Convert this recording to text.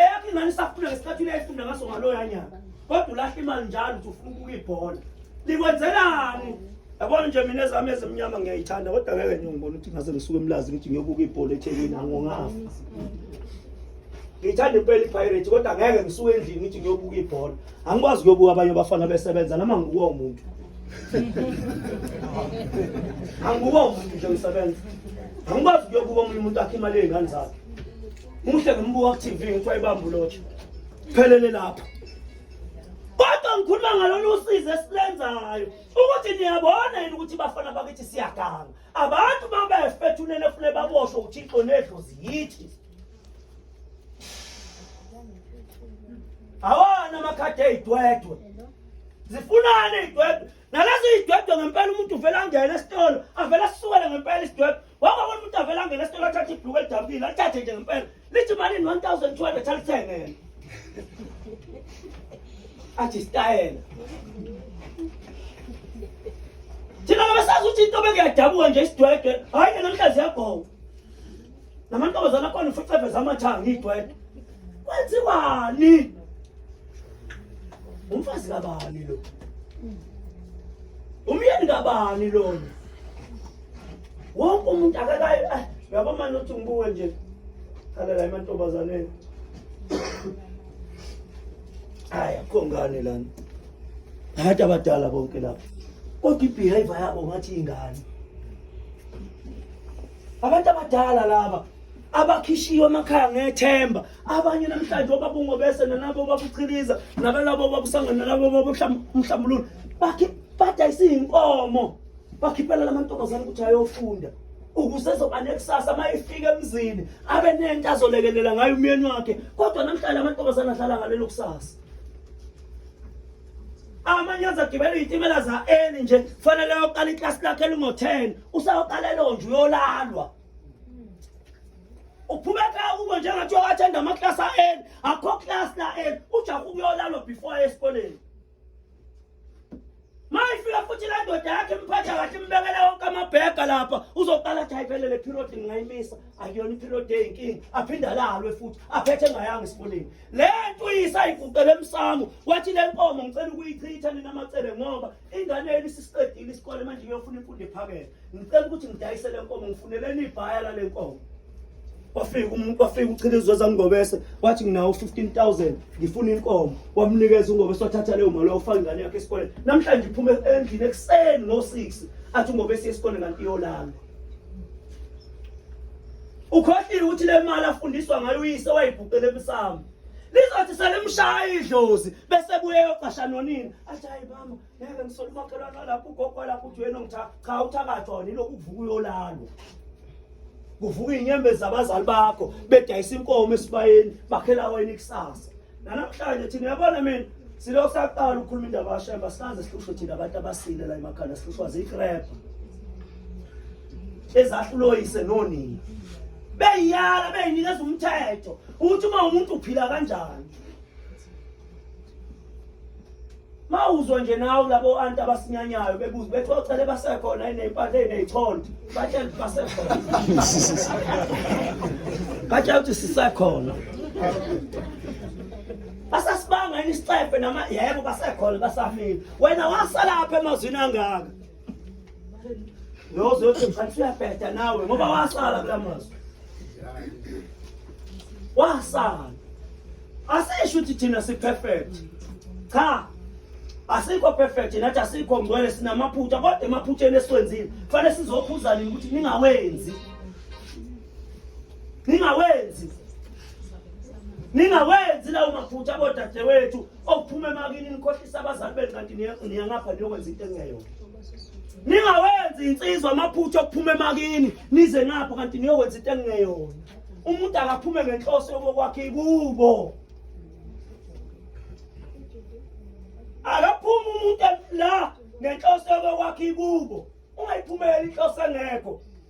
eyakho ingane isakhula ngesikhathi uyayifunda ngaso ngaloya nyaka kodwa ulahla imali njalo ukuthi ufuna ukubuka ibhola likwenzelani yabona nje mina ezami ezimnyama ngiyayithanda kodwa ngeke nje ngibona ukuthi ngase ngisuke emlazi ukuthi ngiyobuka ibhola ethekwini angongafa ngiyithanda impela ipirate kodwa ngeke ngisuke endlini ngithi ngiyobuka ibhola angikwazi kuyobuka abanye abafana besebenza noma ngikuwo umuntu angikuwo umuntu nje ngisebenza angikwazi kuyobuka omunye umuntu akhe imali yey'ngane zakhe Muhle ngimbuka ku TV ngithi wayibamba ulotsha. Phelele lapho. Kodwa ngikhuluma ngalolu usizo esilenzayo ukuthi niyabona yini ukuthi bafana bakithi siyaganga. Abantu mabefethunene fune baboshwe uThixo nedlozi yithi. Awana amakhadi eyidwedwe. Zifunani idwedwe. Nalezi idwedwe ngempela umuntu uvela ngene esitolo avela sisukele ngempela isidwedwe. wangabona umuntu avela ngena esitolo athathe ibhluku elidabukile athathe nje ngempela lithi malini 1200 alithenge yena athi isitayela thina ngabesazi ukuthi into bekuyadabuka nje isidwedwe hhayi yena mhlazi yabhowa namantombazana akhona ufucebe zamathanga idwedwe kwenziwani umfazi kabani lo umyeni kabani lona wonke umuntu akakayo ah, uyabo mani uthi ngibuke nje khalela emantombazaneni hayi akho ngane lana ngathi abadala bonke lapho kodwa ibehavior yabo ngathi ingane abantu abadala laba abakhishiwe emakhaya ngethemba abanye namhlanje obabungo bese nanabo babuchiliza nabalabo babusangana nalabo babuhlambulula bakhe badayisa iy'nkomo bakhiphela lamantombazane ukuthi ayofunda ukuze ezoba nekusasa uma efika emzini abe nento azolekelela ngayo umyeni wakhe kodwa namhlanje amantombazane ahlala ngalelo kusasa amanye azagibela izitimela za-eli nje kufanele ayoqala iklasi lakhe elingo-ten usayoqala elonje uyolalwa uphumeka kubo njengathi uyowathenda amaklasi a-eli akho klasi la-eli ujaha ukuyolalwa before esikoleni mayifika futhi la ndoda yakhe imphatha kahle imbekela wonke amabhega lapha uzoqala athi ayiphelele period ngingayimisa akuyona iperiod eyinkinga aphinde alalwe futhi aphethe engayanga esikoleni le nto uyisayiguqele emsamo wathi le nkomo ngicela ukuyichitha nina macele ngoba ingane yenu isisiqedile isikole manje iyofuna imfundo ephakele ngicela ukuthi ngidayise le nkomo ngifuneleni ibhaya lale nkomo wafika umuntu wafika uchile izweza ngobese wathi nginawo 15000 ngifuna inkomo wamnikeza ungobese wathatha leyo mali wafaka ingane yakhe esikoleni namhlanje iphume endlini ekuseni ngo6 athi ungobese esikoleni kanti iyolala ukhohlile ukuthi le mali afundiswa ngayo uyise wayibhuqele emsamo lizothi selimshaya idlozi bese buye yoqasha nonini athi hayi mama ngeke ngisole umakhelwane walapho ugogo walapho uthi wena ngitha cha uthakathwa wena ilokhu kuvuka uyolalwa kuvuka iy'nyembezi zabazali bakho bedayisa inkomo esibayeni bakhela wena ikusasa nanamhlanje thina yabona mina silo saqala ukukhuluma indaba yashemba sikaze sihlushwe thina abantu abasile la emakhanda sihlushwa ziyikrebha ezahluloyise nonina beyiyala beyinikeza umthetho ukuthi uma umuntu uphila kanjani mawuzwa nje nawe labo anti abasinyanyayo bebuza bethi ocele basekhona iney'mpahla ey'ney'chonto batshela ukuthi basekhona batshela ukuthi sisekhona basasibanga yini isicefe nama yebo basekhona basafile wena wasalapha emazwini angaka nozothi mfana suyabheda nawe ngoba wasala kula mazwi wasala asisho ukuthi thina si-perfect cha asikho perfect nathi asikho ngcwele sinamaphutha kodwa emaphutheni esiwenzile kufanele sizokhuza nini ukuthi ningawenzi ningawenzi ningawenzi lawo maphutha bodadewethu okuphuma emakini nikhohlisa abazali benu kanti niyangapha niyokwenza into engeyona ningawenzi insizwa amaphutha okuphuma emakini nize ngapho kanti niyokwenza into engeyona umuntu akaphume ngenhloso yokokwakhe kubo akaphumi umuntu la ngenhloso yokokwakhe kubo ungayiphumeli inhloso engekho